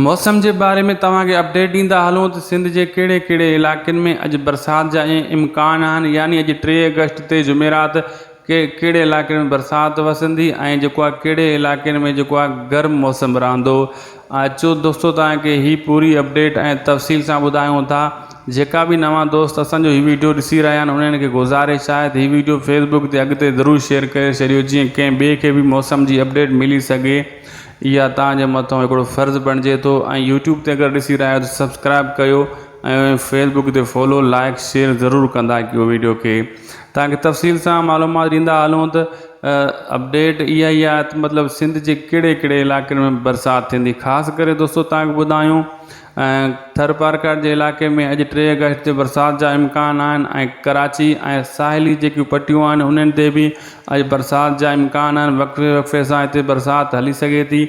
موسم جي باري ۾ توهان کي اپڊيٽ ڏيندا هلون ته سنڌ جي ڪهڙي ڪهڙي علائقن ۾ اڄ برسات جا امڪان آهن يعني اڄ ٽي آگسٽ تي جمعرات کي ڪهڙي علائقن ۾ برسات وسندي ۽ جيڪو آهي ڪهڙي علائقن ۾ جيڪو آهي گرم موسم رهندو اچو دوستو توهان کي هي پوري اپڊيٽ ۽ تفصيل سان ٻڌايون ٿا جيڪا به نوان دوست اسان جو هي ويڊيو ڏسي رهيا آهن انهن کي گذارش آهي ته هي ويڊيو فيسبڪ تي اڳتي ضرور شيئر ڪري ڇڏيو جيئن ڪنهن ٻئي کي به موسم جي اپڊيٽ ملي سگهي اها توهان جي مٿان هڪڙو فرض بڻجي ٿو ۽ يوٽيوب تي اگر ڏسي رهيا آهيو ته سبسڪرائب ڪيو ۽ فيس بڪ تي فالو لائڪ شيئر ضرور ڪندا ڪيو ويڊيو کي توهان کي تفصيل سان معلومات ڏيندا هلون ته اپڊيٽ اها ئي آهي ته مطلب سنڌ جي ڪهڙي ڪهڙي علائقن ۾ برسات ٿيندي خاص ڪري دوستو توهان کي ٻڌايون ٿرپارڪر جي علائقي ۾ اڄ ٽي آگسٽ تي برسات جا امڪان آهن ۽ ڪراچي ۽ ساحلي جيڪيون پٽيون آهن انهن تي به اڄ برسات جا امڪان آهن وقفي وقفي سان هتي برسات هلي سگهي ٿي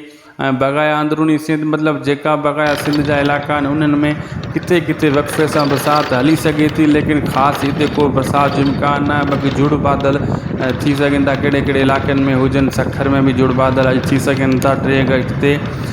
۽ بقايا اندروني سنڌ مطلب جيڪا بقايا سنڌ جا علائقا آهن انهن ۾ ڪٿي ڪٿي وقفي سان برسات هلي سگهي ٿي ليڪن خاص هتي ڪو برسات جو امڪان نه آهي بلڪه جھڙ بادل ٿي سگهن ٿا ڪهڙي ڪهڙي علائقن ۾ هجن سکر ۾ به جھڙ بادل اڄ ٿي سگهن ٿا ٽي آگسٽ تي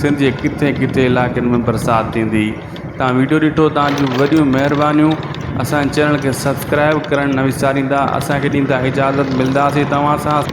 سنڌ جي ڪٿي ڪٿي علائقن ۾ برسات ٿيندي تان ويڊيو ڏٺو تان جون وڏيون مهربانيون اسان چينل کي سبسڪرائب ڪرڻ نه وساريندا اسان کي ڏيندا اجازت ملنداسي توهان سان.